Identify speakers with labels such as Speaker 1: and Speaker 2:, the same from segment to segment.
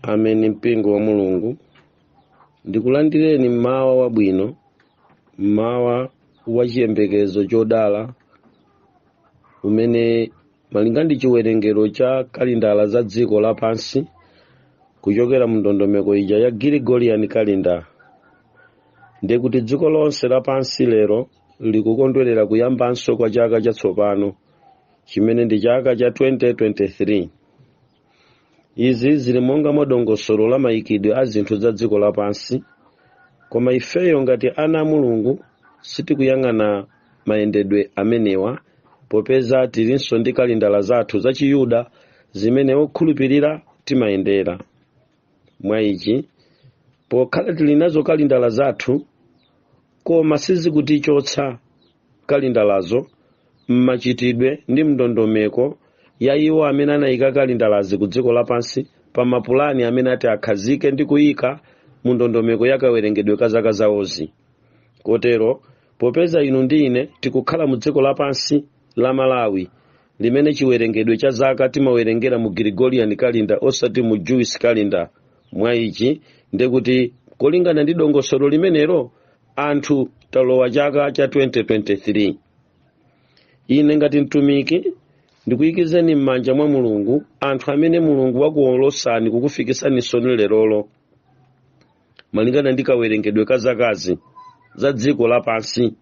Speaker 1: ameni mpingo wa mulungu ndikulandireni mmawa wabwino mmawa wa chiyembekezo chodala umene malinga ndi chiwerengero cha kalindala za dziko lapansi kuchokera mu ndondomeko ija ya gregorian calendar ndiye kuti dziko lonse lapansi lero likukondwerera kuyambanso kwa chaka chatsopano chimene ndi chaka cha 2023 izi zili monga mwa dongosolo la mayikidwe a zinthu za dziko lapansi koma ifeyo ngati ana a mulungu sitikuyang'ana mayendedwe amenewa popeza tilinso ndi kalindala zathu za chiyuda zimene okhulupirira timayendera mwa ichi pokhala tili nazo kalindala zathu koma sizikutichotsa kalindalazo m'machitidwe ndi mndondomeko ya iwo amene anayika kalindalazi ku dziko lapansi pa mapulani amene ati akhazike ndi kuyika mu ndondomeko ya kawerengedwe ka zaka zawozi kotero popeza inu ndi ine tikukhala mu dziko lapansi la malawi limene chiwerengedwe cha zaka timawerengera mu gregorian calendar osati mu jewish calendar mwa ichi ndekuti kolingana ndi dongosolo limenelo anthu talowa chaka cha 2023 ine ngati mtumiki ndikuyikizeni m'manja mwa mulungu anthu amene mulungu wakuwolotsani kukufikitsaninsoni lerolo malingana ndi kawerengedwe ka zakazi za dziko lapansi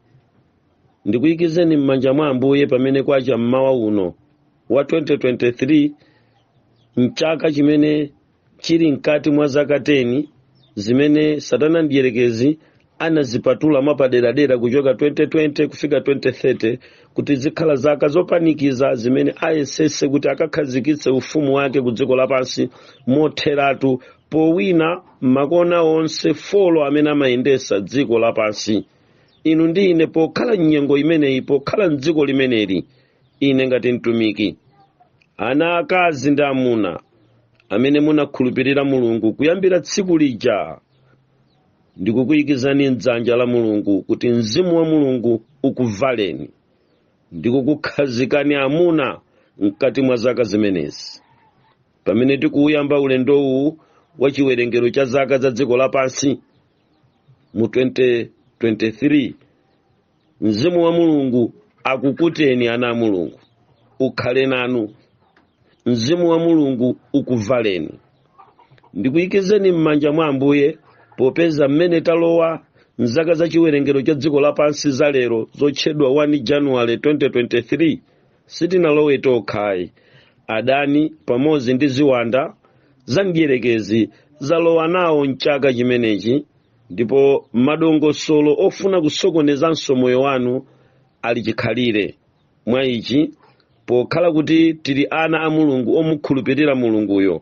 Speaker 1: ndikuyikizeni m'manja mwa ambuye pamene kwacha mmawa uno wa 2023 mchaka chimene chili mkati mwa zaka 10 zimene satana mdierekezi anazipatula mwapaderadera kuchoka 2020 kufika 2030 kuti zikhala zaka zopanikiza zimene ayesese kuti akakhazikitse ufumu wake ku dziko lapansi motheratu powwina makona onse folo amene amayendesa dziko lapansi inu ndi ine pokhala m'nyengo imeneyi pokhala m'dziko limeneli ine ngati mtumiki ana akazi ndi amuna amene munakhulupirira mulungu kuyambira tsiku lija ndikukuyikizani mdzanja la mulungu kuti mzimu wa mulungu ukuvaleni ndikukukhazikani amuna mkati mwa zaka zimenezi pamene tikuuyamba ulendowu wa chiwerengero cha zaka za dziko lapansi mu 2023 mzimu wa mulungu akukuteni ana a mulungu ukhale nanu mzimu wa mulungu ukuvaleni ndikuyikizeni m'manja mwa ambuye popeza mmene talowa mzaka za chiwerengero cha dziko lapansi za lero zotchedwa 1 januwale 2023 sitinalowe tokhayi adani pamodzi ndi ziwanda za mdierekezi zalowa nawo mchaka chimenechi ndipo madongosolo ofuna kusokonezanso moyo wanu ali chikhalire mwa ichi pokhala kuti tili ana a mulungu omukhulupirira mulunguyo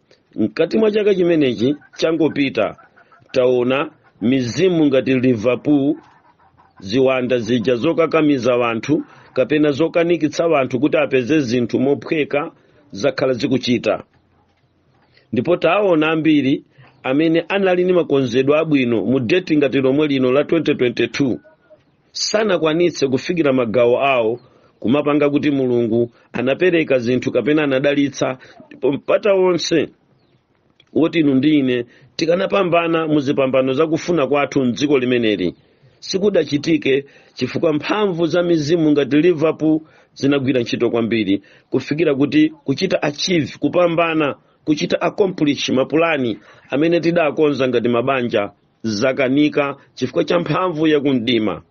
Speaker 1: mkati mwa chaka chimenechi changopita taona mizimu ngati liverpool ziwanda zija zokakamiza wanthu kapena zokanikitsa wanthu kuti asapeze zinthu mophweka zakhala zikuchita ndipo taona ambiri amene anali ndi makonzedwe abwino mu deti ngati lomwe lino la 2022 sanakwanitse kufikira magawo awo kumapanga kuti mulungu anapereka zinthu kapena anadalitsa ndipo mpata wonse woti inu ndi ine tikanapambana mu zipambano zakufuna kwathu mdziko limeneli sikudachitike chifukwa mphamvu za mizimu ngati liverpool zinagwira ntchito kwambiri kufikira kuti kuchita achieve kupambana kuchita accomplish mapulani amene tidakonza ngati mabanja zakanika chifukwa cha mphamvu yakumdima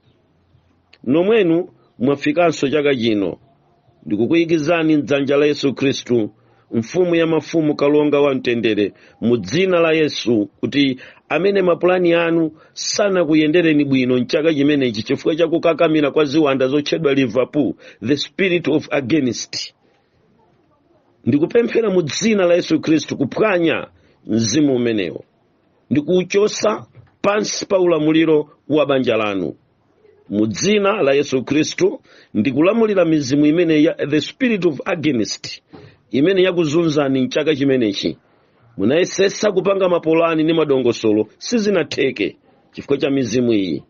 Speaker 1: nomwenu mwafikanso chaka chino ndikukuyikizani mdzanja la yesu khristu mfumu ya mafumu kalonga wa mtendere mu dzina la yesu kuti amene mapulani anu sanakuyendereni bwino mchaka chimenechi chifukwa cha kukakamira kwa ziwanda zotchedwa liverpool the spirit of against ndikupemphera mu dzina la yesu khristu kuphwanya mzimu umenewo ndi kuuchotsa pansi pa ulamuliro wa banja lanu mu dzina la yesu khristu ndikulamulira mizimu imene ya the spirit of against imene yakuzunzani mchaka chimenechi munayesesa kupanga mapulani ndi madongosolo sizinatheke chifukwa cha mizimu iyi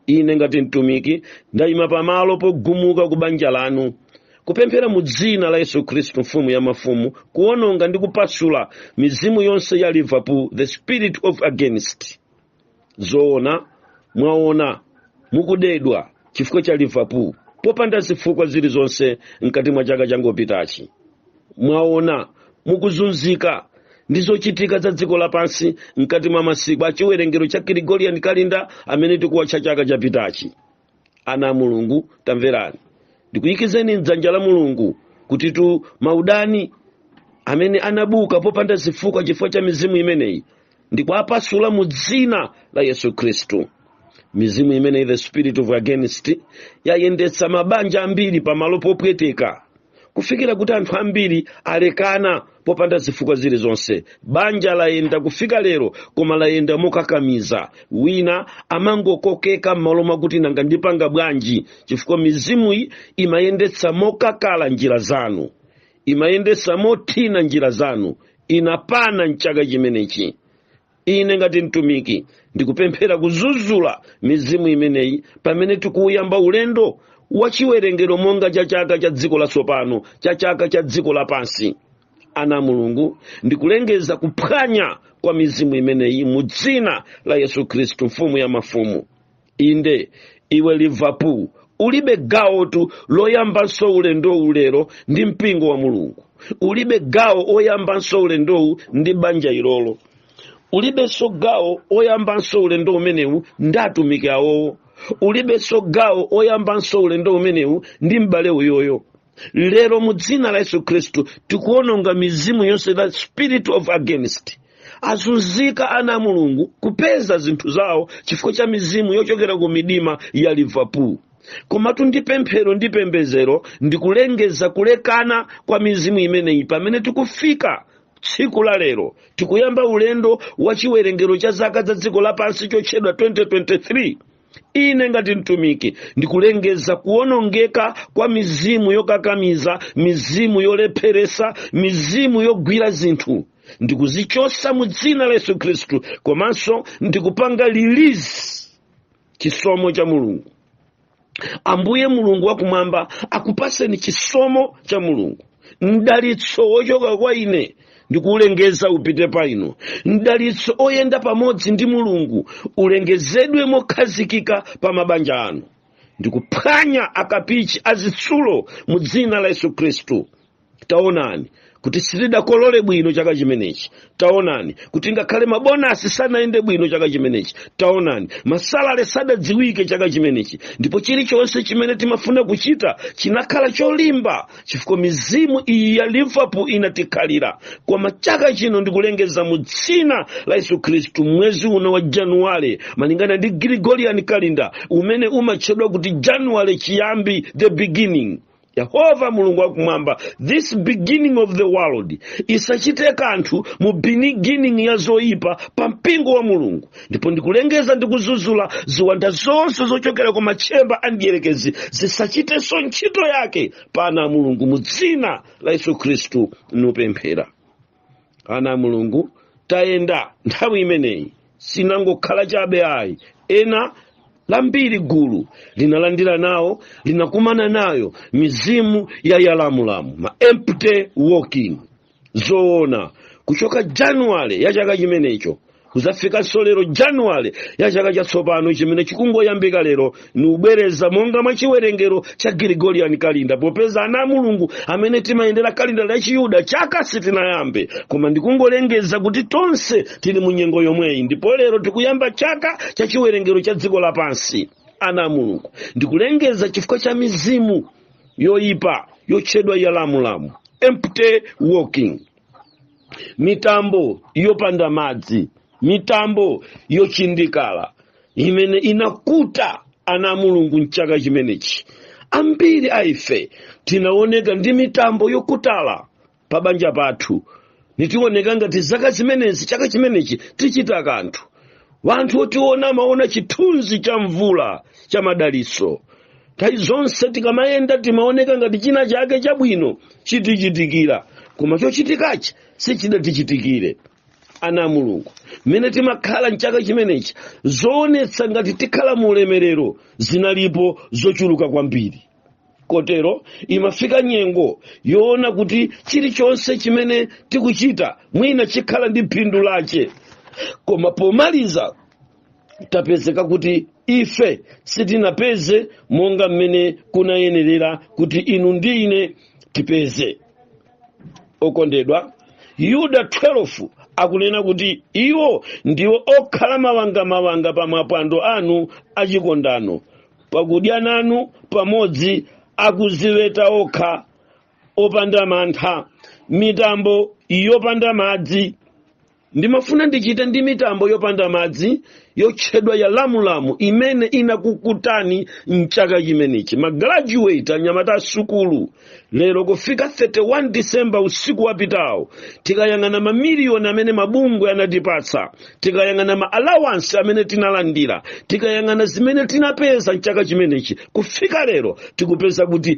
Speaker 1: ine ngati mtumiki ndayima pamalo pogumuka ku banja lanu kupemphera mu dzina la yesu khristu mfumu ya mafumu kuwononga ndi kupasula mizimu yonse ya liverpool the spirit of against zoona mwaona mukudedwa chifukwa cha liverpool popanda zifukwa zilizonse mkati mwa chaka changopitachi mwaona mukuzunzika ndi zochitika za dziko lapansi mkati mwa masiku a chiwerengero cha Gregorian calendar amene tikuwatcha chaka chapitachi ana a mulungu tamverani ndikuyikizeni mdzanja la mulungu kutitu maudani amene anabuka popanda zifukwa chifukwa cha mizimu imeneyi ndi kuwapasula mu dzina la yesu khristu mizimu imene the spirit of against yayendetsa mabanja ambiri pamalo popweteka kufikira kuti anthu ambiri alekana popanda zifukwa zilizonse banja layenda kufika lero koma layenda mokakamiza wina amangokokeka m'malo mwakuti nanga ndipanga bwanji chifukwa mizimuyi imayendetsa mokakala njira zanu imayendesa mothina njira zanu inapana mchaka chimenechi ine ngati mtumiki ndikupemphera kuzuzula mizimu imeneyi pamene tikuuyamba ulendo wa chiwerengero monga cha chaka cha dziko latsopano cha chaka cha dziko lapansi ana a mulungu ndikulengeza kuphwanya kwa mizimu imeneyi mu dzina la yesu khristu mfumu ya mafumu inde iwe liverpool ulibe gawotu loyambanso ulendowu lero ndi mpingo wa mulungu ulibe gawo oyambanso ulendowu ndi banja ilolo ulibenso gawo oyambanso ulendo umenewu ndi atumiki awowo ulibenso gawo oyambanso ulendo umenewu ndi m'bale uyoyo lero mu dzina la yesu khristu tikuononga mizimu yonse the spirit of against azunzika ana a mulungu kupeza zinthu zawo chifukwa cha mizimu yochokera ku midima ya liverpool komatu ndi pemphero ndi pembezero ndikulengeza kulekana kwa mizimu imeneyi pamene tikufika tsiku la lero tikuyamba ulendo wa chiwerengero cha zaka za dziko lapansi chotchedwa 2023 ine ngati mtumiki ndikulengeza kuwonongeka kwa mizimu yokakamiza mizimu yolepheresa mizimu yogwira zinthu ndikuzichosa mu dzina la yesu khristu komanso ndikupanga release chisomo cha mulungu ambuye mulungu wakumwamba akupaseni chisomo cha mulungu mdalitso wochoka kwa ine ndikuulengeza upite pa inu mdalitso oyenda pamodzi ndi mulungu ulengezedwe mokhazikika pa mabanja anu ndikuphwanya akapichi azitsulo mu dzina la yesu khristu taonani kuti sitidakolole bwino chaka chimenechi taonani kuti ngakhale mabonasi sanayende bwino chaka chimenechi taonani masalale sadadziwike chaka chimenechi ndipo chilichonse chimene timafuna kuchita chinakhala cholimba chifukwa mizimu iyi ya liverpool inatikhalira koma chaka chino ndikulengeza mu dzina la yesu khristu mwezi uno wa januwale malingana ndi gregorian calendar umene umatchedwa kuti januwale chiyambi the beginning yehova mulungu wakumwamba this beginning of the world isachite kanthu mu beginning ya zoyipa pa mpingo wa mulungu ndipo ndikulengeza ndikuzuzula ziwanda zonse zochokera ku matchemba a mdierekezi zisachitenso ntchito yake pa ana a mulungu mu dzina la yesu khristu ndikupemphera ana a mulungu tayenda nthawi imeneyi sinangokhala chabe ayi ena lambiri gulu linalandira nawo linakumana nayo mizimu ya yalamulamu ma empty working zoona kuchoka januwale ya chaka chimenecho kuzafikanso lero januwale ya chaka chatsopano chimene chikungoyambika lero nikubwereza monga mwa chiwerengero cha gregorian calendar popeza ana a mulungu amene timayendera kalinda la chiyuda chaka sitinayambe koma ndikungolengeza kuti tonse tili mu nyengo yomweyi ndipo lero tikuyamba chaka cha chiwerengero cha dziko lapansi ana a mulungu ndikulengeza chifukwa cha mizimu yoyipa yotchedwa yalamulamu empty working mitambo yopanda madzi mitambo yochindikala imene inakuta ana a mulungu mchaka chimenechi ambiri a ife tinaoneka ndi mitambo yokutala pa banja pathu n'tiwoneka ngati zaka zimenezi chaka chimenechi tichita kanthu wanthu otiona amaona chithunzi cha mvula cha madaliso nthawi zonse tikamayenda timaoneka ngati china chake chabwino chitichitikira koma chochitikachi sichidatichitikire ana a mulungu mmene timakhala mchaka chimenechi zoonetsa ngati tikhala mu ulemerero zinalipo zochuluka kwambiri kotero imafika nyengo yoona kuti chilichonse chimene tikuchita mwina chikhala ndi phindu lache koma pomaliza tapezeka kuti ife sitinapeze monga mmene kunayenerera kuti inu ndi ine tipeze okondedwa yuda 12 akunena kuti iwo ndiwo okhala mawangamawanga pa mapwando anu a chikondano pakudya nanu pamodzi akuziweta okha opanda mantha mitambo yopanda madzi ndimafuna ndichite ndi mitambo yopanda madzi yotchedwa yalamulamu imene inakukutani mchaka chimenechi magraduate anyamata asukulu lero kufika 31 disemba usiku wapitawo tikayang'ana mamiliyoni amene mabungwe anatipatsa tikayang'ana ma allowance amene tinalandira tikayang'ana zimene tinapeza mchaka chimenechi kufika lero tikupeza kuti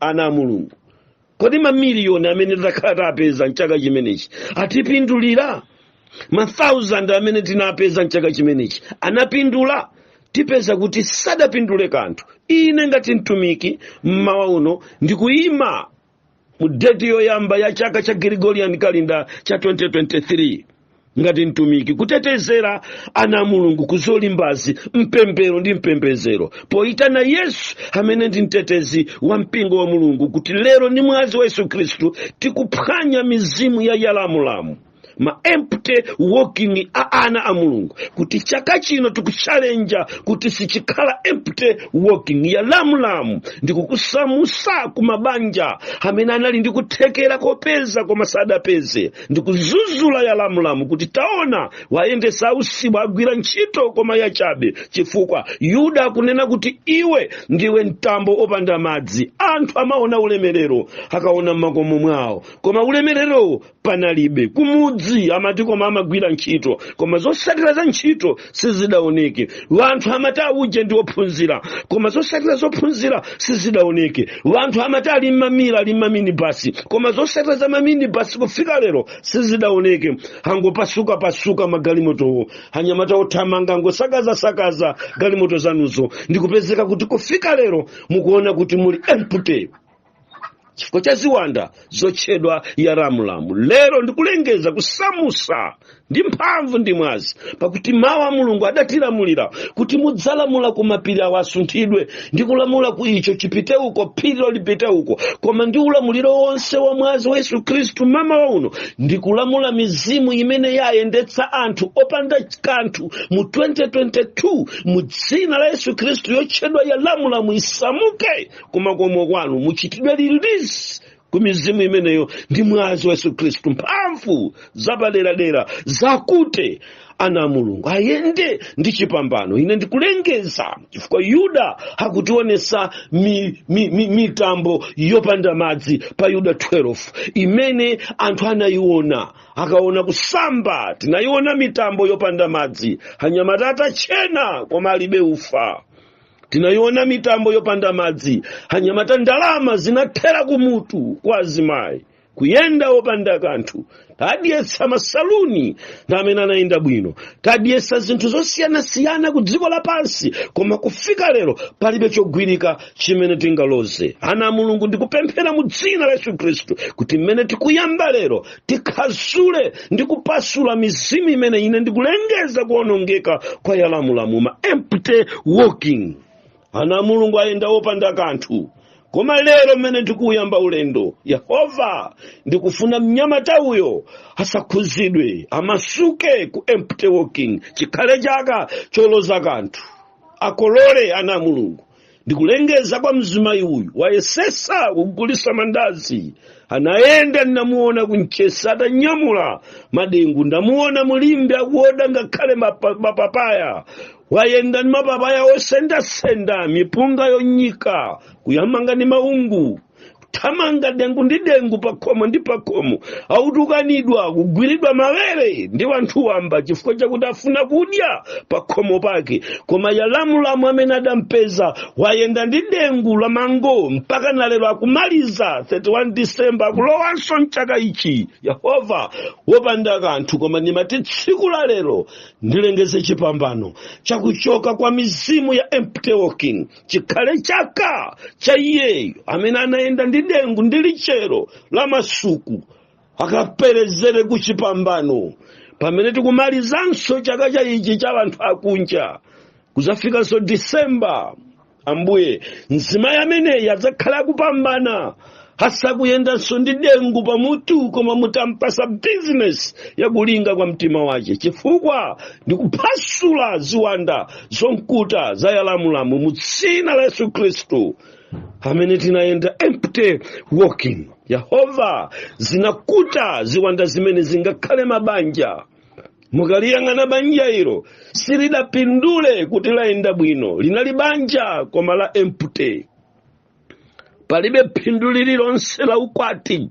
Speaker 1: ana a mulungu kodi mamiliyoni amene takhala tapeza mchaka chimenechi atipindulira mathausand amene tinapeza mchaka chimenechi anapindula tipeza kuti sadapindule kanthu ine ngati mtumiki mmawa uno ndikuyima mu deti yoyamba ya chaka cha gregorian calendar cha 2023 ngati mtumiki kutetezera ana a mulungu ku zolimbazi mpemphero ndi mpembedzero poyitana yesu amene ndi mtetezi wa mpingo wa mulungu kuti lero ndi mwazi wa yesu khristu tikuphwanya mizimu ya yalamulamu ma empty walking a ana a mulungu kuti chaka chino tikuchalenja kuti sichikhala empty walking yalamulamu ndikukusamusa ku mabanja amene anali ndi kuthekera kopeza koma sadapeze ndikuzuzula yalamulamu kuti taona wayendesa ausiwa agwira ntchito koma yachabe chifukwa yuda akunena kuti iwe ndiwe mtambo opanda madzi anthu amaona ulemerero akaona m'makomo mwawo koma ulemererowo panalibe kumudzi amati koma amagwira ntchito koma zosatira za ntchito sizidaoneke wanthu amati auje ndi ophunzira koma zosatira zophunzira sizidaoneke wanthu amati ali mmamira ali mmaminibasi koma zosatira za maminibasi kufika lero sizidaoneke angopasuka pasuka magalimotowo anyamata othamanga angosakaza sakaza galimoto zanuzo ndikupezeka kuti kufika lero mukuona kuti muli empty chifukwa cha ziwanda zotchedwa yalamulamu lero ndikulengeza kusamusa ndi mphamvu ndi mwazi pakuti mawu a mulungu adatilamulira kuti mudzalamula ku mapiri awo asunthidwe ndi kulamula ku icho chipite uko phirilo lipite uko koma ndi ulamuliro wonse wa mwazi wa yesu khristu mamawa uno ndikulamula mizimu imene yayendetsa anthu opanda kanthu mu 2022 mu dzina la yesu khristu yotchedwa yalamulamu isamuke kumakomo kwanu muchitidwe release ku mizimu imeneyo ndi mwazi wa yesu khristu mphamvu zapaderadera zakute ana a mulungu ayende ndi chipambano ine ndikulengeza chifukwa yuda akutionesa mi, mi, mi, mitambo yopanda madzi pa yuda 12 imene anthu anayiona akaona kusamba tinayiona mitambo yopanda madzi anyamata atachena koma alibe ufa tinayiona mitambo yopanda madzi anyamata ndalama zinathera kumutu kwa azimayi kuyenda opanda kanthu tadyetsa masaluni ndi amene anayenda bwino tadyetsa zinthu zosiyanasiyana ku dziko lapansi koma kufika lero palibe chogwirika chimene tingaloze ana a mulungu ndikupemphera mu dzina la yesu khristu kuti mmene tikuyamba lero tikhazule ndi kupasula mizimu imene ine ndikulengeza kuonongeka kwa yalamulamu ma empty walking ana a mulungu ayenda opanda kanthu koma lero mmene tikuuyamba ulendo yehova ndikufuna mnyamata uyo asakhuzidwe amasuke ku empty walking chikhale chaka choloza kanthu akolole ana a mulungu ndikulengeza kwa mzimayi uyu wayesesa kugulisa mandazi anayenda ndinamuona ku Mchesi atanyamula madengu ndamuona mu Limbe akuoda ngakhale mapa- mapapaya wayenda ndi mapapaya osendasenda mipunga yonyika kuthamanga ndi maungu kuthamanga dengu ndi dengu pakhomo ndi pakhomo akutukanidwa kugwiridwa mawere ndi wanthu wamba chifukwa chakuti afuna kudya pakhomo pake koma yalamulamu amene adampeza wayenda ndi dengu la mango mpaka nalero akumaliza 31 disemba akulowanso mchaka ichi yehova wopanda kanthu koma ndimati tsiku la lero ndilengeze chipambano chakuchoka kwa mizimu ya empty walking chikhale chaka cha iyeyo amene anayenda ndi dengu ndi lichero la masuku akaperezere ku chipambano pamene tikumalizanso chaka ichi cha anthu akunja kudzafikanso disemba ambuye mzimayi ameneyi adzakhala akupambana asakuyendanso ndi dengu pamutu koma mutampatsa bizinesi yakulinga kwa mtima wake chifukwa ndikuphasula ziwanda zomkuta za yalamulamu mu dzina la yesu khristu amene tinayenda empty walking yehova zinakuta ziwanda zimene zingakhale mabanja mukaliyang'ana banja ilo silidapindule kuti layenda bwino linali banja koma la empty palibe phindu lililonse la ukwati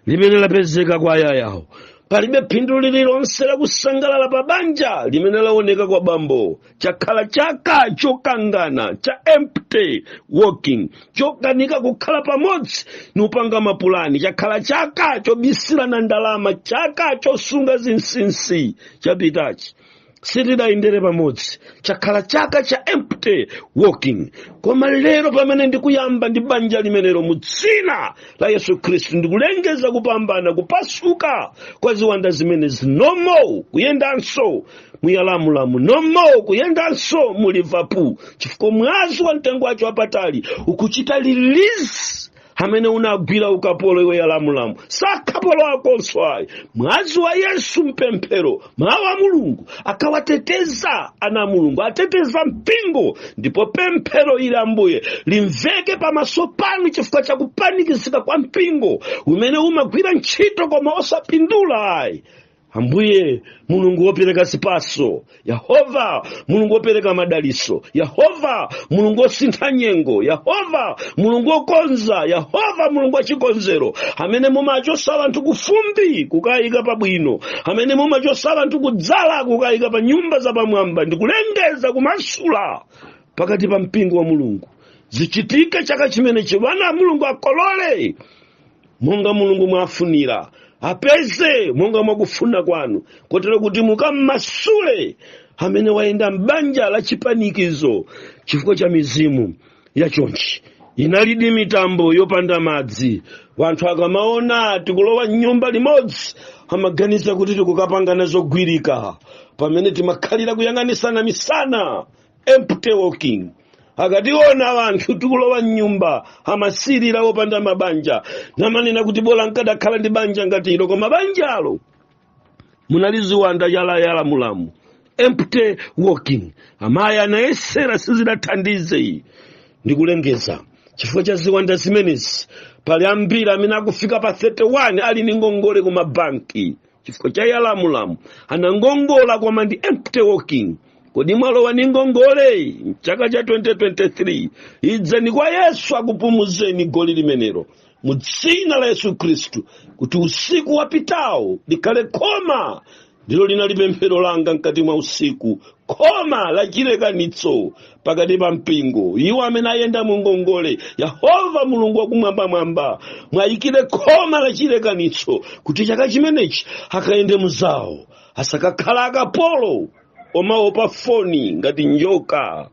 Speaker 1: limene lapezeka kwa amayiwo palibe phindu lililonse la kusangalala pa banja limene laoneka kwa bambo chakhala chaka chokangana cha empty walking chokanika kukhala pamodzi nkupanga mapulani chakhala chaka chobisirana ndalama chaka chosunga zinsinsi chapitachi sitidayendere pamodzi chakhala chaka cha empty walking koma lero pamene ndikuyamba ndi banja limenelo mu dzina la yesu khristu ndikulengeza kupambana kuphasuka kwa ziwanda zimene zinomo kuyendanso muyalamulamu nomo kuyendanso mu liverpool chifukwa mwazi wa mtengo wake wapatali ukuchita release amene unawagwira ukapolo iwe yalamulamu sakapolo akonso ayi mwazi wa yesu mpemphero mawu a mulungu akawateteza ana a mulungu ateteza mpingo ndipo pemphero ili ambuye limveke pamaso panu chifukwa cha kupanikizika kwa mpingo umene umagwira ntchito koma osapindula ayi ambuye mulungu wopereka zipatso yehova mulungu wopereka madalitso yehova mulungu wosintha nyengo yehova mulungu wokonza yehova mulungu wachikonzero amene mumachotsa anthu kufumbi kukayika pabwino amene mumachotsa anthu kudzala kukayika pa nyumba zapamwamba ndikulengeza kumasula pakati pa mpingo wa mulungu zichitike chaka chimenechi wana a mulungu akolole monga mulungu mwafunira apeze monga mwakufuna kwanu kotero kuti mukammasule amene wayenda m'banja la chipanikizo chifukwa cha mizimu ya chonchi inalidi mitambo yopanda madzi wanthu akamaona tikulowa mnyumba limodzi amaganiza kuti tikukapangana zogwirika pamene timakhalira kuyang'anisana misana empty walking akationa wanthu tikulowa mnyumba amasirira opanda mabanja namanena kuti bola nkadakhala ndi banja ngati ilo koma banjalo munali ziwanda yalayala mulamu empty walking amayi anayesera sizidathandize iyi ndikulengeza chifukwa cha ziwanda zimenezi pali ambiri amene akufika pa 31 ali ndi ngongole ku mabanki chifukwa cha yalamulamu anangongola koma ndi empty walking kodi mwalowa ni ngongole mchaka cha 2023 idzani kwa yesu akupumuzeni goli limenelo mu dzina la yesu khristu kuti usiku wapitawo likhale khoma ndilo linali pemphero langa mkati mwa usiku khoma la chilekanitso pakati pa mpingo iwo amene ayenda mu ngongole yehova mulungu wakumwambamwamba mwayikire khoma la chilekanitso kuti chaka chimenechi akayende mu zawo asakakhala akapolo omaopa foni ngati njoka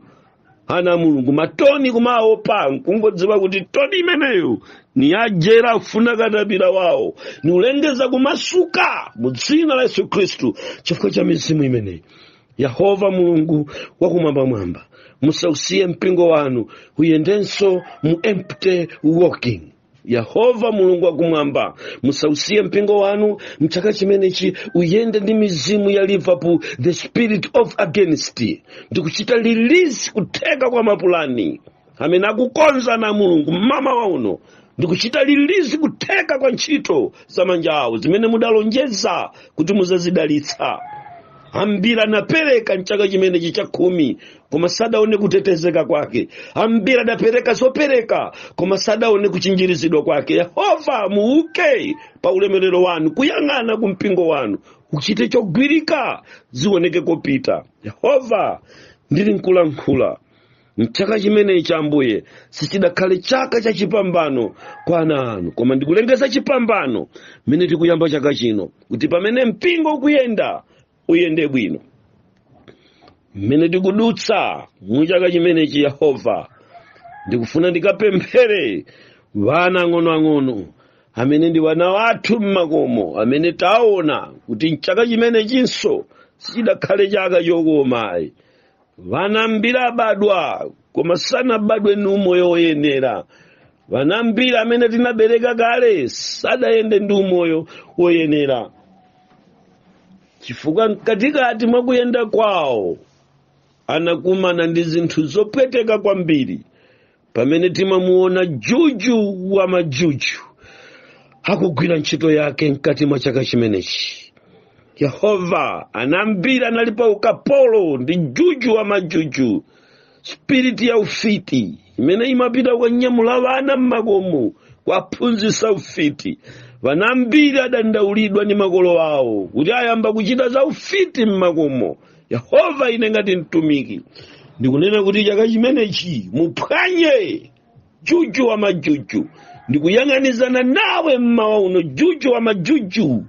Speaker 1: ana a mulungu matoni kumawaopa nkungodziwa kuti toni imeneyo ni ya jere akufuna katapira wawo nikulengeza kumasuka mu dzina la yesu khristu chifukwa cha mizimu imeneyi yehova mulungu wakumwambamwamba musausiye mpingo wanu uyendenso mu empty walking yehova mulungu wakumwamba musausiye mpingo wanu mchaka chimenechi uyende ndi mizimu ya liverpool the spirit of against ndikuchita release kutheka kwa mapulani amene akukonza ana a mulungu mmamawa uno ndikuchita release kutheka kwa ntchito za manja awo zimene mudalonjeza kuti mudzazidalitsa ambiri anapereka mchaka chimenechi chakhumi koma sadaone kutetezeka kwake ambiri adapereka zopereka koma sadaone kuchinjirizidwa kwake yehova muuke pa ulemerero wanu kuyang'ana ku mpingo wanu uchite chogwirika zioneke kopita yehova ndili nkulankhula mchaka chimenechi ambuye sichidakhale chaka cha chipambano kwa ana anu koma ndikulengeza chipambano mmene tikuyamba chaka chino kuti pamene mpingo ukuyenda uyende bwino mmene tikudutsa mu chaka chimenechi yehova ndikufuna ndikapemphere vana ang'onoang'ono amene ndi vana wathu mmakomo amene taona kuti mchaka chimenechinso sichidakhale chaka chokoma ayi vana ambiri abadwa koma sanabadwe ndi umoyo woyenera vana ambiri amene tinabereka kale sanayende ndi umoyo woyenera chifukwa mkatikati mwa kuyenda kwawo anakumana ndi zinthu zopweteka kwambiri pamene timamuona juju wa majuju akugwira ntchito yake mkati mwa chaka chimenechi yehova ana ambiri anali pa ukapolo ndi juju wa majuju sipiriti ya ufiti imene imapita kukanyamula vana mmakomo kuwaphunzitsa ufiti vana ambiri adandaulidwa ndi makolo awo kuti ayamba kuchita za ufiti mmakomo yehova ine ngati mtumiki ndikunena kuti chaka chimenechi muphwanye juju wa majuju ndikuyang'anizana nawe mmawa uno juju wa majuju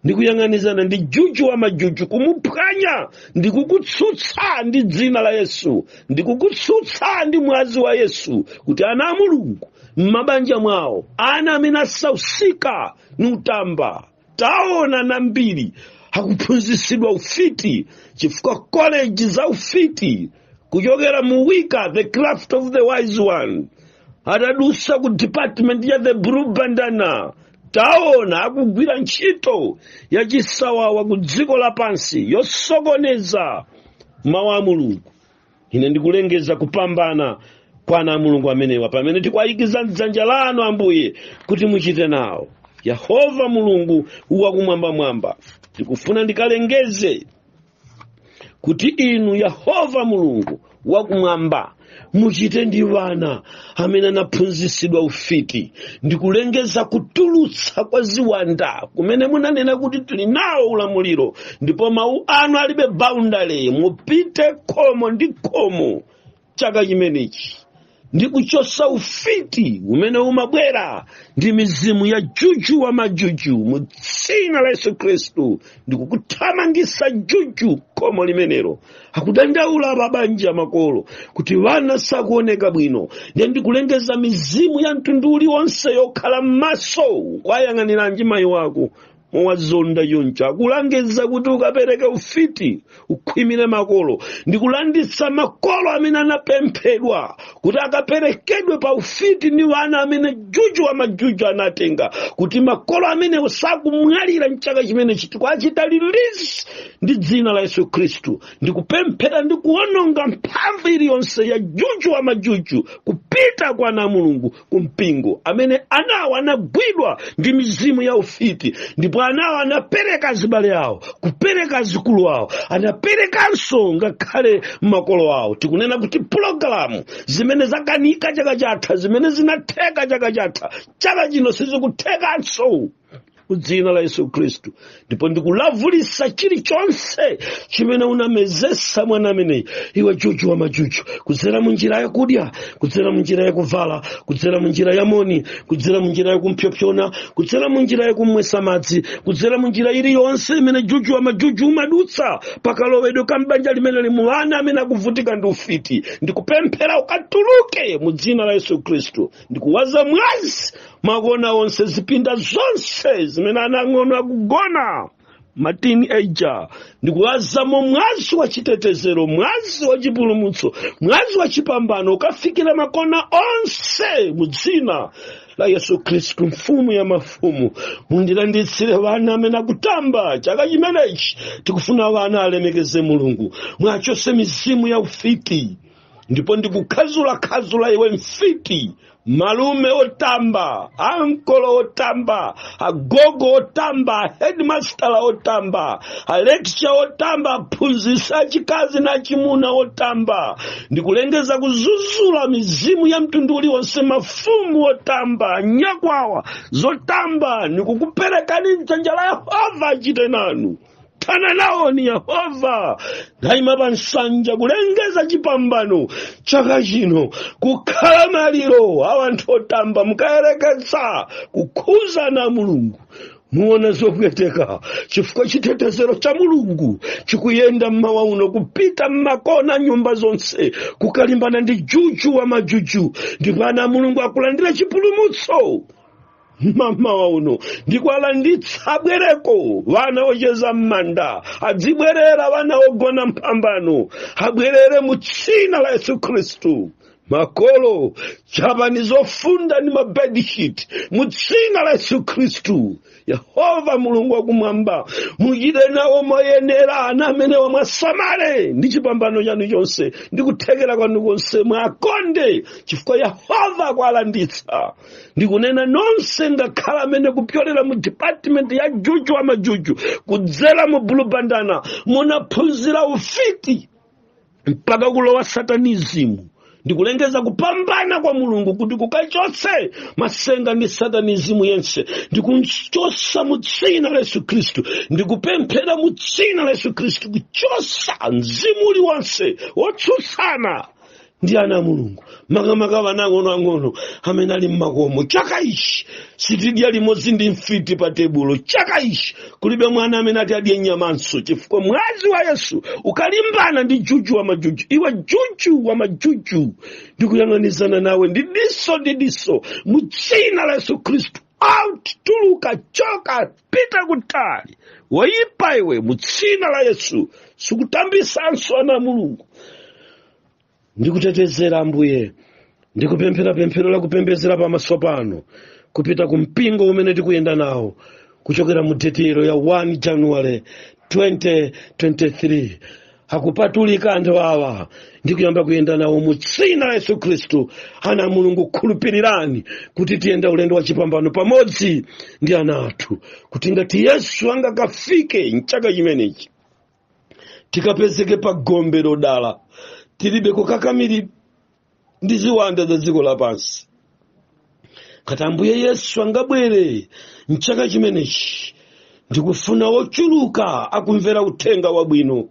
Speaker 1: ndikuyang'anizana ndi juju wa majuju kumuphwanya ndikukutsutsa ndi dzina la yesu ndikukutsutsa ndi mwazi wa yesu kuti ana a mulungu m'mabanja mwawo ana amene asausika ni utamba taona ana ambiri akuphunzitsidwa ufiti chifukwa koleji za ufiti kuchokera mu wicca the craft of the wise one atadusa ku department ya the blue bandana taona akugwira ntchito ya chisawawa ku dziko lapansi yosokoneza mawu a mulungu ine ndikulengeza kupambana kwa ana a mulungu amenewa pamene tikuwayikiza mdzanja lanu ambuye kuti muchite nawo yehova mulungu wakumwambamwamba ndikufuna ndikalengeze kuti inu yehova mulungu wakumwamba muchite ndi wana amene anaphunzitsidwa ufiti ndikulengeza kutulutsa kwa ziwanda kumene munanena kuti tili nawo ulamuliro ndipo mawu anu alibe boundary mupite khomo ndi khomo chaka chimenechi ndi kuchosa ufiti umene umabwera ndi mizimu ya juju wa majuju mu dzina la yesu khristu ndikukuthamangisa juju khomo limenelo akudandaula pabanja makolo kuti vana sakuoneka bwino ndiye ndikulengeza mizimu ya mtundu uliwonse yokhala m'maso ukuwayang'aniranji mayi wako mowazonda yoncha akulangiza kuti ukapereke ufiti ukhwimire makolo ndikulanditsa makolo amene anapemphedwa kuti akaperekedwe pa ufiti ndi wana amene juju wa majuju anatenga kuti makolo amenewo sakumwalira mchaka chimene chi tikuwachita release ndi dzina la yesu khristu ndikupemphera ndikuononga mphamvu iliyonse ya juju wa majuju kupita kwa ana a mulungu ku mpingo amene anawo anagwidwa ndi mizimu ya ufiti ndipo anawo anapereka azibale awo kupereka adzukulu awo anaperekanso ngakhale makolo awo tikunena kuti pulogalamu zimene zakanika chaka chatha zimene zinatheka chaka chatha chaka chino sizikuthekanso mu dzina la yesu khristu ndipo ndikulavulisa chilichonse chimene unamezesa mwana ameneyi iwe juju wa majuju kudzera mu njira yakudya kudzera mu njira yakuvala kudzera mu njira ya moni kudzera mu njira yakumphyophyona kudzera mu njira yakumwesa madzi kudzera mu njira iliyonse imene juju wa majuju umadutsa pakalowedwe ka m'banja limeneli muli ana amene akuvutika ndi ufiti ndikupemphera ukatuluke mu dzina la yesu khristu ndikuwaza mwazi makona onse zipinda zonse zimene ana ang'ono akugona matini eja ndikuwazamo mwazi wa chitetezero mwazi wa chipulumutso mwazi wa chipambano ukafikire makona onse mu dzina la yesu khristu mfumu ya mafumu mundilanditsire vana amene akutamba chaka chimenechi tikufuna vana alemekeze mulungu muwachose mizimu ya ufiti ndipo ndikukhazulakhazula iwe mfiti malume otamba ankolo otamba agogo otamba aheadmaster otamba alecturer otamba aphunzitsi achikazi na achimuna otamba ndikulengeza kuzuzula mizimu ya mtundu uliwonse mafumu otamba nyakwawa zotamba ndikukuperekani mdzanja la yehova achite nanu thana nawo ni yehova ndayima pa nsanja kulengeza chipambano chaka chino kukhala maliro a wanthu otamba mukayerekeza kukhudza ana a mulungu muona zopweteka chifukwa chitetezero cha mulungu chikuyenda mmawa uno kupita mmakona nyumba zonse kukalimbana ndi juju wa majuju ndipo ana a mulungu akalandire chipulumutso mamawa uno ndikuwalanditsa abwereko wana ocheza m'manda adzibwerera wana ogona mphambano abwerere mu tsina la yesu khristu makolo chapani zofunda ndi mabedishiti mu tsina la yesu khristu yehova mulungu wakumwamba muchite nawo moyenera ana amene wa muwasamale ndi chipambano chanu chonse ndi kuthekera kwanu konse muwakonde chifukwa yehova kuwalanditsa ndikunena nonse ngakhale amene kupyolera mu department ya juju wa majuju kudzera mu bulubandana munaphunzira ufiti mpaka kulowa satanizimu ndikulengeza kupambana kwa mulungu kuti kukachotse matsenga ndi satanizimu yense ndikuchotsa mu dzina la yesu khristu ndikupemphera mu dzina la yesu khristu kuchotsa mzimu uliwonse wotsutsana ndi ana a mulungu makamaka ana ang'onoang'ono amene ali mmakomo chaka ichi sitidya limodzi ndi mfiti pa tebulo chaka ichi kulibe mwana amene ati adye nyamanso chifukwa mwazi wa yesu ukalimbana ndi juju wa majuju iwe juju wa majuju ndikuyang'anizana nawe diso ndi diso mu dzina la yesu khristu out tuluka choka pita kutali woyipa iwe mu dzina la yesu sukutambitsanso ana a mulungu ndikutetezereni ambuye ndikupemphera pemphero la kupembedzera pamaso pano kupita ku mpingo umene tikuyenda nawo kuchokera mu deti ilo ya 1 januwale 2023 akupatulika anthu awa ndi kuyamba kuyenda nawo mu dzina la yesu khristu ana a mulungu khulupirirani kuti tiyenda ulendo wa chipambano pamodzi ndi ana athu kuti ngati yesu angakafike mchaka chimenechi tikapezeke pa gombe lodala tilibe kukakamirika ndi ziwanda za dziko lapansi ngati ambuye yesu angabwere mchaka chimenechi ndikufuna ochuluka akumvera uthenga wabwino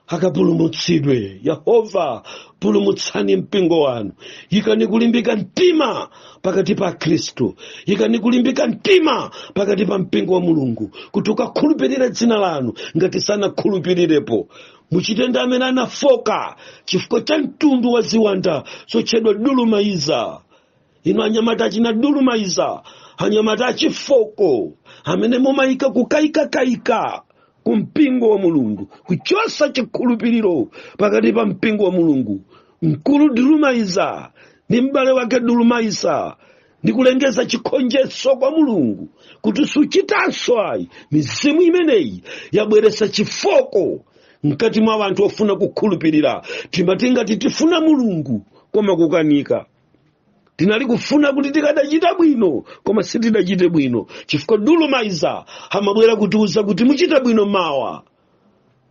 Speaker 1: akapulumutsidwe yehova pulumutsani mpingo wanu yikani kulimbika mtima pakati pa akhristu ikani kulimbika mtima pakati pa mpingo wa mulungu kuti ukakhulupirire dzina lanu ngati sanakhulupirirepo muchite ndi amene anafooka chifukwa cha mtundu wa ziwanda zotchedwa dulumaiza inu anyamata achina dulumaiza anyamata achifooko amene mumayika kukayikakayika ku mpingo wa mulungu kuchotsa chikhulupiriro pakati pa mpingo wa mulungu mkulu dulumaiza ndi m'bale wake dulumaiza ndikulengeza chigonjetso cha mulungu kuti suchitanso ayi mizimu imeneyi yabweretsa chifooko mkati mwa anthu ofuna kukhulupirira timati ngati tifuna mulungu koma kukanika tinali kufuna kuti tikadachita bwino koma sitidachite bwino chifukwa dulumaiza amabwera kutiuza kuti muchita bwino mawa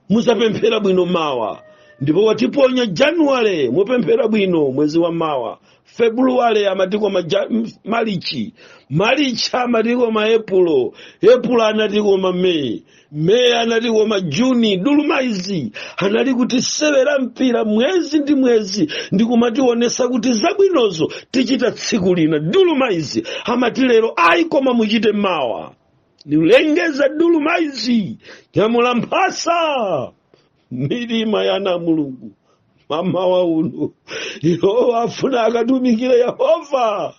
Speaker 1: muzapemphera bwino mawa ndipo watiponya januwale mupemphera bwino mwezi wa mawa februwale amati koma maja- m- malichi malichi amati koma epulo epulo anati koma meyi meyi anati koma juni dulumaiza anali kutisewera mpira mwezi ndi mwezi ndi kumationesa kuti zabwinozo tichita tsiku lina dulumaiza amati lero ayi koma muchite mawa ndikulengeza dulumaiza nyamula mphasa m'mitima ya ana a mulungu m'mawa uno iwo afuna akatumikire yehova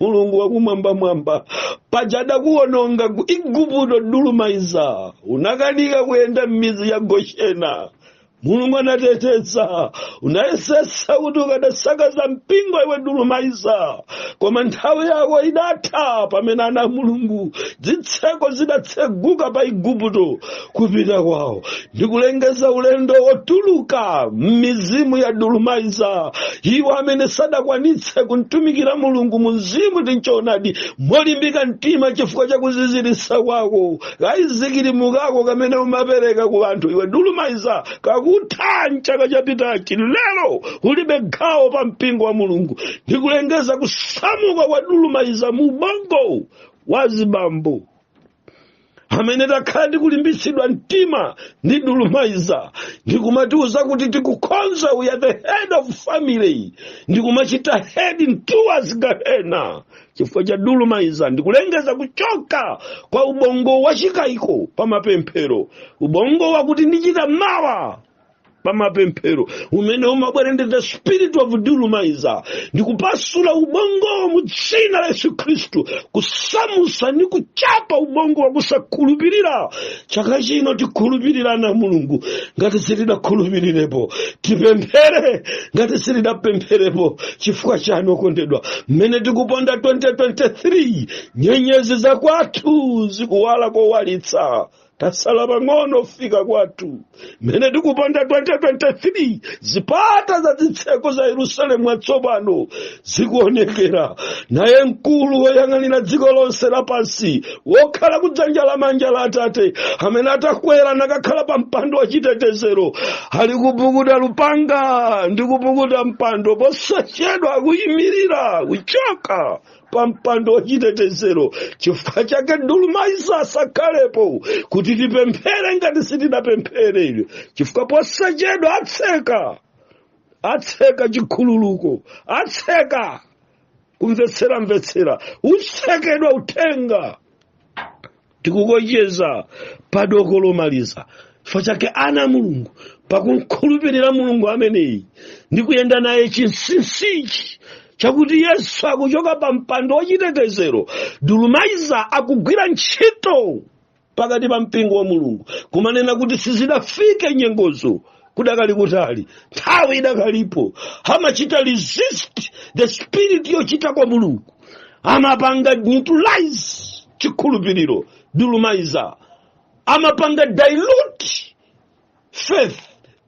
Speaker 1: mulungu wakumwambamwamba paja udaononga ku igupto dulumaiza unakanika kuyenda m'mizi ya gosheni mulungu anateteza unayesesa kuti ukadasakaza mpingo iwe dulumaiza koma nthawi yako idatha pamene ana a mulungu zitseko zidatseguka pa igupto kupita kwawo ndikulengeza ulendo wotuluka m'mizimu ya dulumaiza iwo amene sadakwanitse kumtumikira mulungu mu mzimu ndi m'choonadi molimbika mtima chifukwa cha kuziziritsa kwako ka ayisikirimu kako kamene umapereka ku anthu iwe dulumaiza kakuthera m'chaka chapitachi lero ulibe gawo pa mpingo wa mulungu ndikulengeza kusamuka kwa dulumaiza mu ubongo wa azibambo amene takhala tikulimbitsidwa mtima ndi dulumaiza ndikumatiuza kuti tikukhoza we are the head of family ndikumachita heading towards gahena chifukwa cha dulumaiza ndikulengeza kuchoka kwa ubongo wa chikayiko pa mapemphero ubongo wakuti ndichita mawa pamapemphero umene umabwera ndi the spirit of dulumaiza ndikupasula ubongowo mu dzina la yesu khristu kusamusa ndi kuchapa ubongo wa kusakhulupirira chaka chino tikhulupirire ana a mulungu ngati sitidakhulupirirepo tipemphere ngati sitidapempherepo chifukwa chani okondedwa mmene tikuponda 2023 nyenyezi za kwathu zikuwala kowalitsa tasala pang'ono fika kwathu mmene tikuponda 2023 zipata za zitseko za yerusalemu watsopano zikuonekera naye mkulu woyang'anira dziko lonse lapansi wokhala kudzanja la manja la atate amene anakwera nakakhala pa mpando wa chitetezero ali kupukuta lupanga ndi kupukuta mpando posachedwa akuyimirira kuchoka pa mpando wachitetezero chifukwa chake dulumayiza asakhalepo kuti tipemphere ngati sitidapempheredi chifukwa posachedwa atseka atseka chikhululuko atseka kumvetseramvetsera utsekedwa uthenga tikukocheza pa doko lomaliza chifukwa chake ana a mulungu pakumkhulupirira mulungu ameneyi ndi kuyenda naye chinsinsichi chakuti yesu akuchoka pa mpando wachitetezero dulumayiza akugwira ntchito pakati pa mpingo wa mulungu kumanena kuti sizidafike nyengozo kudakali kutali nthawi idakalipo amachita resist the spirit yochita kwa mulungu amapanga neutralize chikhulupiriro dulumayiza amapanga dilute faith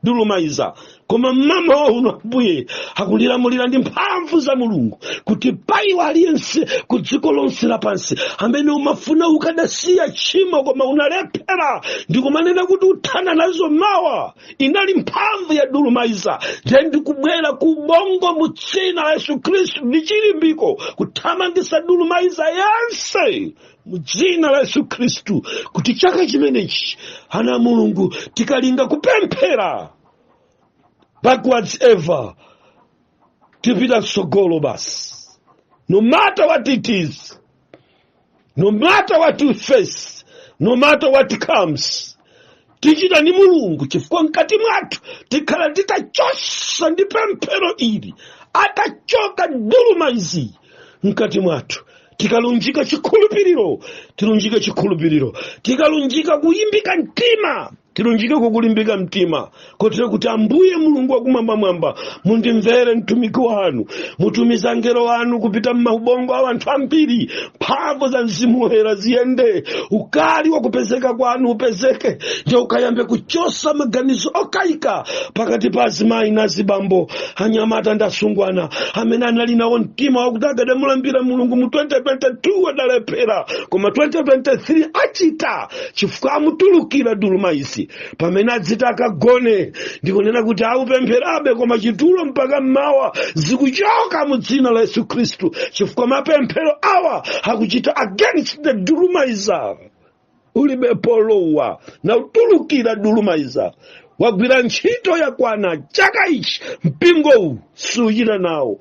Speaker 1: dulumayiza koma mmawa uno ambuye akulilamulira ndi mphamvu za mulungu kuti paiwo aliyense ku dziko lonse lapansi amene umafuna ukadasiya tchimo koma unalephera ndikumanena kuti uthana nazo mawa inali mphamvu ya dulumayiza ndiye ndikubwera ku ubongo mu dzina la yesu khristu ndi chilimbiko kuthamangisa dulumayiza yense mu dzina la yesu khristu kuti chaka chimenechi ana a mulungu tikalinga kupemphera backwards ever tipita mtsogolo basi no matter what it is no matter what we face no matter what comes tichita ni mulungu chifukwa mkati mwathu tikhala titachosa ndi pemphero ili atachoka dulumayiza mkati mwathu tikalunjika chikhulupiriro tilunjike chikhulupiriro tikalunjika kulimbika mtima tilunjike kukulimbika mtima kotero kuti ambuye mulungu wakumwambamwamba mundimvere mtumiki wanu mutumiza angelo wanu kupita m'maubongo a anthu ambiri mphamvu za mzimu woyera ziyende ukali wakupezeka kwanu upezeke ndiye ukayambe kuchosa maganizo okayika pakati pa azimayi na azibambo anyamata ndi asungwana amene anali nawo mtima wakuti akadamulambira mulungu mu 2022 adalephera koma 2023 achita chifukwa amutulukira dulumayiza pamene adziti akagone ndikunena kuti aupempherabe koma chitulo mpaka mmawa zikuchoka mu dzina la yesu khristu chifukwa mapemphero awa akuchita against the dulumayiza ulibe polowa na utulukira dulumayiza wagwira ntchito yakwana chaka ichi mpingowu suchita nawo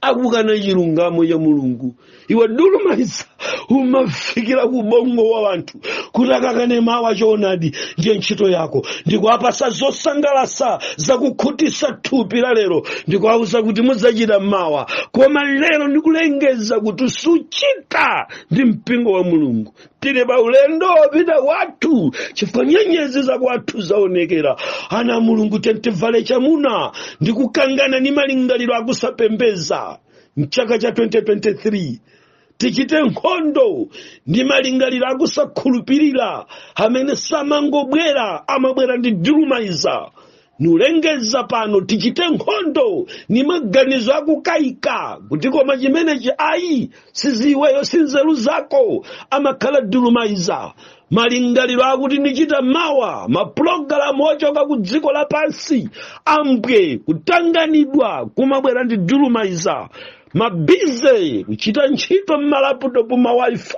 Speaker 1: akukana chilungamo cha mulungu iwe dulumayiza umafikira ku bongo wa wanthu kuti akakane mawa choonadi ndiye ntchito yako ndikuwapasa zosangalasa zakukhutisa thupi la lero ndikuwauza kuti mudzachita mawa koma lero ndikulengeza kuti suchita ndi mpingo wa mulungu tili pa ulendo wopita kwathu chifukwa nyenyezi za kwathu zaonekera ana a mulungu tiyeni tivale chamuna ndi kukangana ndi malingaliro akusapembeza mchaka cha 2023 tichite nkhondo ndi malingaliro akusakhulupirira amene samangobwera amabwera ndi dulumayiza nikulengeza pano tichite nkhondo ni maganizo akukayika kuti koma chimenechi ayi si iweyo si nzeru zako amakhala dulumayiza malingaliro akuti nichita mawa mapulogalamu ochoka ku dziko lapansi a mbwe kutanganidwa kumabwera ndi dulumayiza mabize kuchita ntchito m'malaputopu ma wifi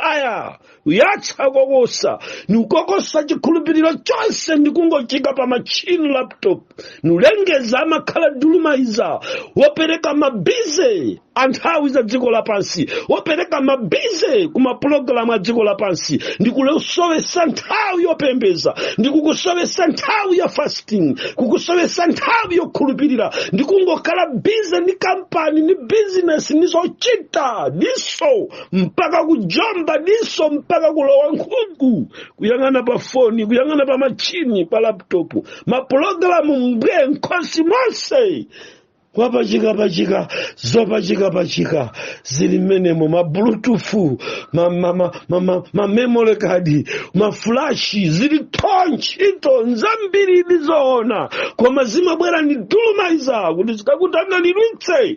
Speaker 1: kuyatsa kokosa nikukokosa chikhulupiriro chonse ndikungochika pa machine laptop nikulengeza amakhala dulumayiza wopereka mabize anthawi za dziko lapansi wopereka mabize ku mapulogalamu a dziko lapansi ndikukusowesa nthawi yopembeza ndikukusowesa nthawi ya fasting kukusowesa nthawi yokhulupirira ndikungokhala bize ndi kampani ndi bizinesi ndi zochita diso mpaka kujomba diso mpaka kulowa nkhungu kuyang'ana pa foni kuyang'ana pa machini pa laptopu mapulogalamu mbwe m'khosi monse wapachikapachika zopachikapachika zili mmenemo mablutufu mamemory kadi mafulashi zili tho ntchito nzambiri ndi zoona koma zimabwera ndi dulumayiza kuti zikakutanganidwitse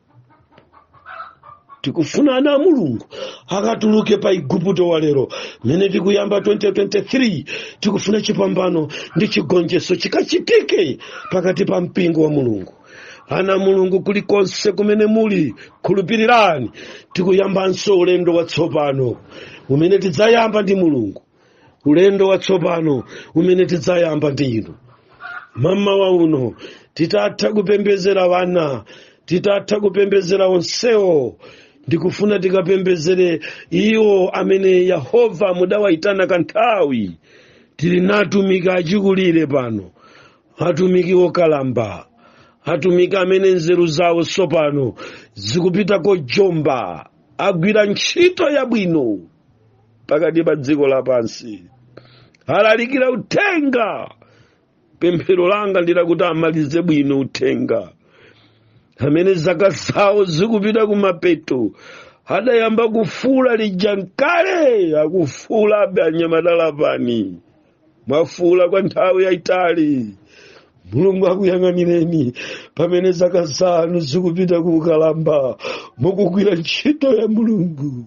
Speaker 1: tikufuna ana a mulungu akatuluke pa iguputo wa lero mmene tikuyamba 2023 tikufuna chipambano ndi chigonjetso chikachitike pakati pa mpingo wa mulungu ana a mulungu kulikonse kumene muli khulupirirani tikuyambanso ulendo watsopano umene tidzayamba ndi mulungu ulendo watsopano umene tidzayamba ndi inu mmawa uno titatha kupembezera wana titatha kupembezera onsewo ndikufuna tikapembezere iwo amene yehova mudawayitana kanthawi tili natumiki achikulire pano atumiki okalamba atumiki amene nzeru zawo tsopano zikupita kojomba agwira ntchito yabwino pakati pa dziko lapansi alalikira uthenga pemphero langa ndilakuti amalize bwino uthenga amene zaka zawo zikupita kumapeto adayamba kufuula lija nkale akufuulabe anyamata Lapani mwafuula kwa nthawi yayitali mulungu akuyang'anireni pamene zaka zanu zikupita kuukalamba mukugwira ntchito ya mulungu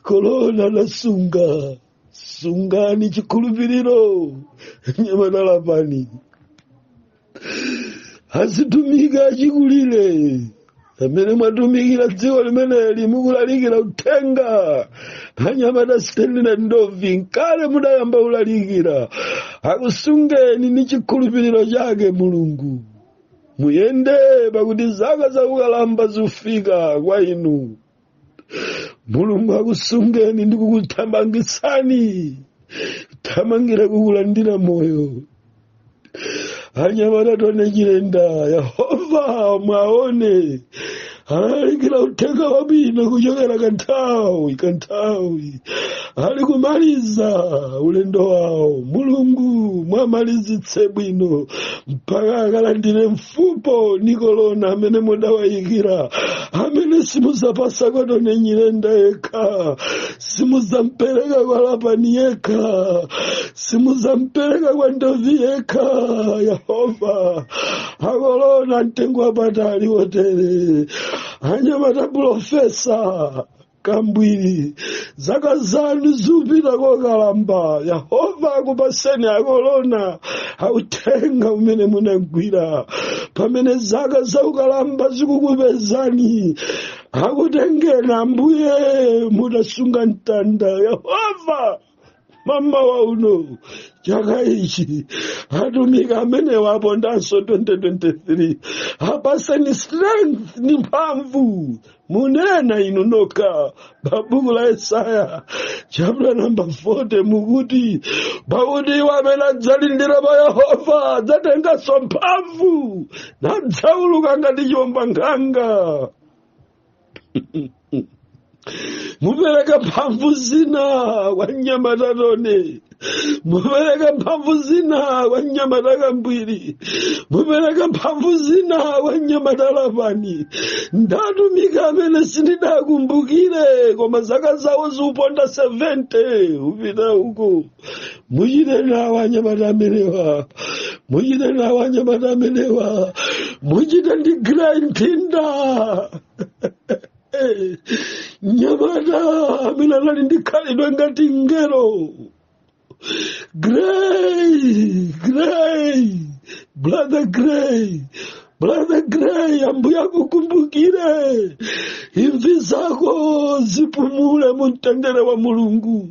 Speaker 1: kolona adasunga sungani chikhulupiriro anyamata Lapani azitumika achikulire pamene mwatumikira dziko limeneli mukulalikira uthenga anyamata sitendere Ndovi nkale mudayamba kulalikira akusungeni ni chikhulupiriro chake mulungu muyende pakuti zaka zakukalamba zikufika kwa inu mulungu akusungeni ndi kukuthamangitsani kuthamangira kukulandira moyo anyamata Tony Nyirenda yehova mwaone alalikira uthenga wabwino kuchokera kanthawi kanthawi ali kumaliza ulendo wawo mulungu muwamalizitse bwino mpaka akalandire mfupo ndi kolona amene mudawayikira amene simuzapasa kwa Tony Nyirenda yekha simuzampereka kwa lapani yekha simuzampereka kwa ndovi yekha yehova akolona mtengo wapatali wotere anyamata pulofesa kambwiri zaka zanu zikupita kokalamba yehova akupaseni akolona a uthenga umene munagwira pamene zaka zakukalamba zikukupezani akutengeni ambuye mutasunga mtanda yehova mamawa uno chaka ichi atumiki amenewa apondanso 2023 apaseni strength ni mphamvu munena inu nokha pa buku la yesaya chapter number 40 mukuti pakuti iwo amene adzalindira pa yehova adzatenganso mphamvu nadzauluka ngati chiwombankhanga mupereka mphamvu zina kwa anyamata Tony mupereka mphamvu zina kwa anyamata Kambwiri mupereka mphamvu zina kwa anyamata Lapani ndi atumiki amene sindidakumbukire koma zaka zawo zikuponda 70 kupita uku muchite nawo anyamata amenewa muchite nawo anyamata amenewa muchite ndi Gray Ntinda mnyamata amene anali ndi khalidwe ngati ngelo gray gray brother gray Brother Gray, ambuye akukumbukire. Imvi zako zipumule mu mtendere wa Mulungu.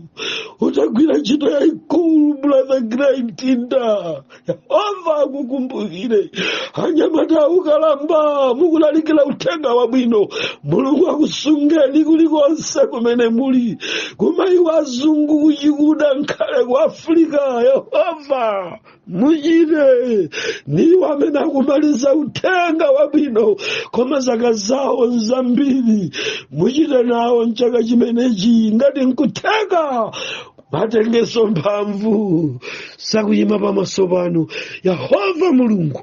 Speaker 1: Utagwira ntchito yaikulu, Brother Gray Mtinda. Yehova akukumbukire. Anyamata okalamba mukulalikira uthenga wabwino. Mulungu akusungeni kulikonse kumene muli. Kumayiko azungu kuchikuda ngakhale ku Afrika. Yehova muchite ndi amene akumaliza uthenga wabwino koma zaka zawo nzambiri muchite nawo mchaka chimenechi ngati nkutheka mwatenganso mphamvu zakuyima pamaso panu yehova mulungu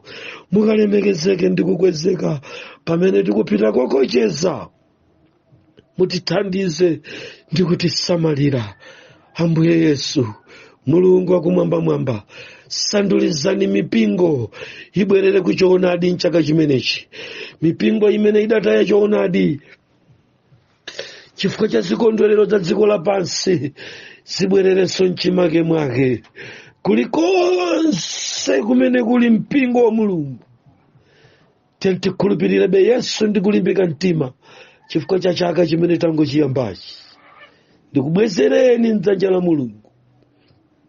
Speaker 1: mukalemekezeke ndi kukwezeka pamene tikupita kokocheza mutithandize ndi kutisamalira ambuye yesu mulungu wakumwambamwamba sandulizani mipingo ibwerere ku choonadi mchaka chimenechi mipingo imene idataya choonadi chifukwa cha zikondwerero za dziko lapansi zibwererenso mchimake mwake kulikonse kumene kuli mpingo wa mulungu tiyeni tikhulupirirebe yesu ndi kulimbika mtima chifukwa cha chaka chimene tangochiyambachi ndikubwezereni mdzanja la mulungu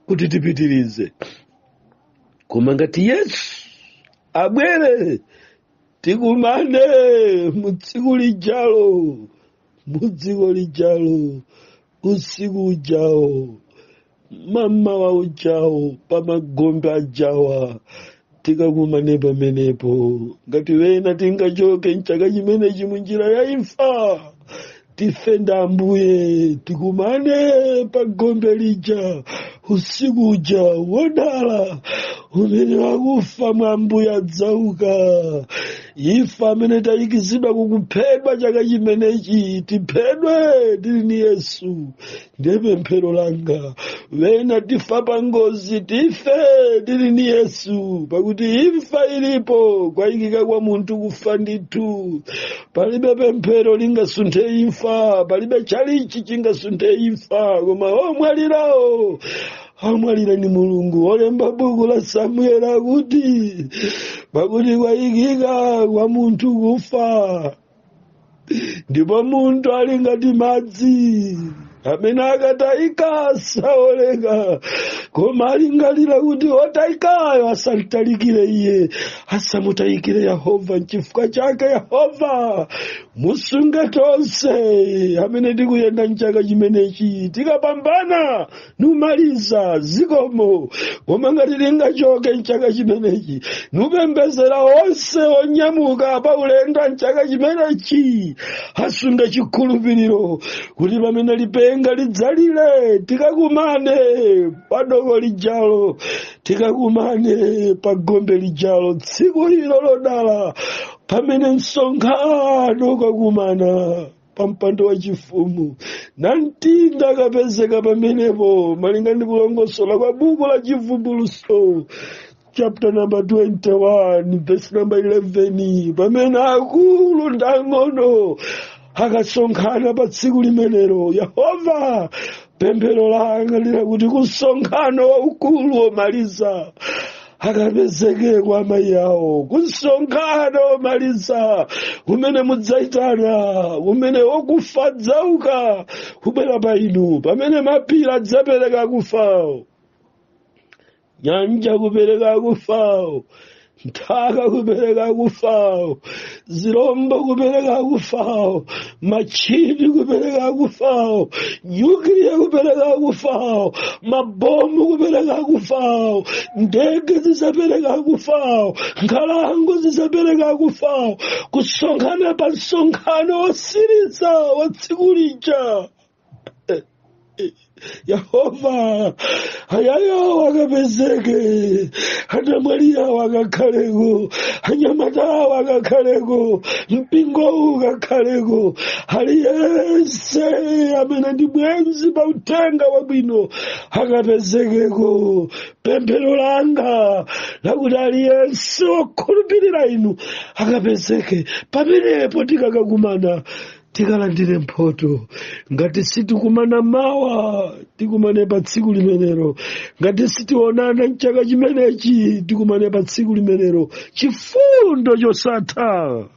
Speaker 1: kuti tipitirize koma ngati yesu abwere tikumane mu tsiku lijalo mu dziko lijalo usiku ujawo mamawa ujawo pamagombe ajawa tikakumane pamenepo ngati wena tingachoke mchaka chimenechi munjira ya imfa tife ndi ambuye tikumane pagombe lija usiku uja wodala amene wakufa mwa ambuye adzauka ife amene tayikizidwa kukuphedwa chaka chimenechi tiphedwe tili ni yesu ndiye pemphero langa wena tifa pa ngozi tife tili ni yesu pakuti imfa ilipo kwayikika kwa munthu kufa ndithu palibe pemphero lingasunthe imfa palibe chalichi chingasunthe imfa koma omwalirawo amwalira ni mulungu olemba buku la samueli akuti pakuti kwayikika kwa munthu kufa ndipo munthu ali ngati madzi amene akatayika saoleka koma alingalira kuti otayikayo asamtalikire iye asamutayikire yehova nchifukwa chake yehova musunge tonse amene tikuyenda mchaka chimenechi tikapambana nikumaliza zikomo koma ngati lingachoke mchaka chimenechi nikupembedzera onse onyamuka pa ulendo mchaka chimenechi asunge chikhulupiriro kuti pamene lipenga lidzalire tikakumane pa doko lijalo tikakumane pa gombe lijalo tsiku ilo lodala pamene msonkhano ukakumana pa mpando wa chifumu namtinda akapezeka pamenepo malinga ndi kulongosola kwa buku la chivumbulutso chapter number 21 verse number 11 pamene akulu ndi ang'ono akasonkhana pa tsiku limenelo yehova pemphero langa lili lakuti kumsonkhano waukulu womaliza akapezekeko amayi awo kumsonkhano womaliza umene mudzayitana umene okufa adzauka kubwera pa inu pamene mapiri adzapereka akufa awo nyanja kupereka kufawo nthaka kupereka kufawo zirombo kupereka kufawo machini kupereka kufawo nyukiliya kupereka kufawo mabomu kupereka kufawo ndege zisapereka kufawo nkhalango zisapereka kufawo kusonkhana pa msonkhano wosiriza wa tsiku lija yehova amayi awo akapezeke anamwali awo akakhaleko anyamatawo akakhaleko mpingowu ukakhaleko aliyense amene ndi bwenzi pa uthenga wabwino akapezekeko pemphero langa lakuti aliyense wokhulupirira inu akapezeke pamenepo tikakakumana tikalandire mphoto ngati sitikumana mawa tikumane pa tsiku limenelo ngati sitionana mchaka chimenechi tikumane pa tsiku limenelo chifundo chosatha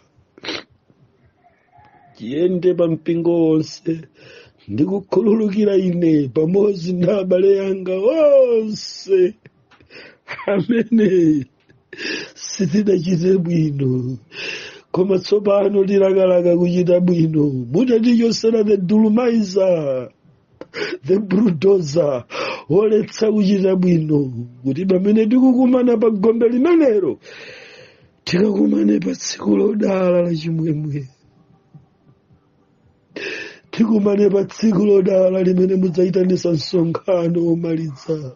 Speaker 1: chiyende pa mpingo wonse ndi kukhululukira ine pamodzi ndi abale anga onse amene sitinachite bwino koma tsopano tilakalaka kuchita bwino mutatichotsera the dulumizer the brudoza oletsa kuchita bwino kuti pamene tikukumana pa gombe limenelo tikakumane pa tsiku lodala la chimwemwe tikumane pa tsiku lodala limene mudzayitanitsa msonkhano omaliza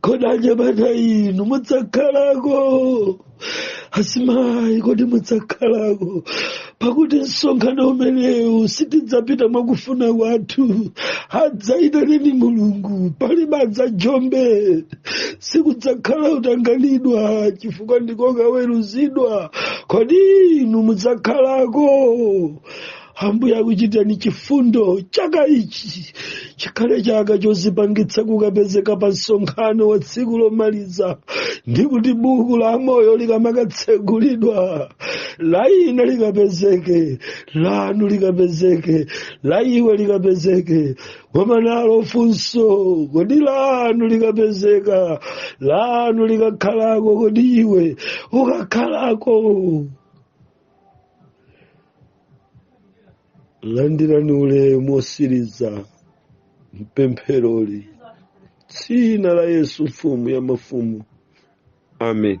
Speaker 1: kodi abambo inu mudzakhalako asimayi kodi mudzakhalako pakuti msonkhano umenewu sitidzapita mwakufuna kwathu adzayitane ndi mulungu pali badza jombe sikudzakhala utanganidwa chifukwa ndikokaweruzidwa kodi inu mudzakhalako ambuye akuchitireni chifundo chaka ichi chikhale chaka chozipangitsa kukapezeka pa msonkhano wa tsiku lomaliza ndi kuti buku la moyo likamakatsegulidwa la ine likapezeke lanu likapezeke la iwe likapezeke koma nalo funso kodi lanu likapezeka lanu likakhalako kodi iwe ukakhalako landirani ulemu wotsiriza mpempheroli mdzina la yesu mfumu ya mafumu amen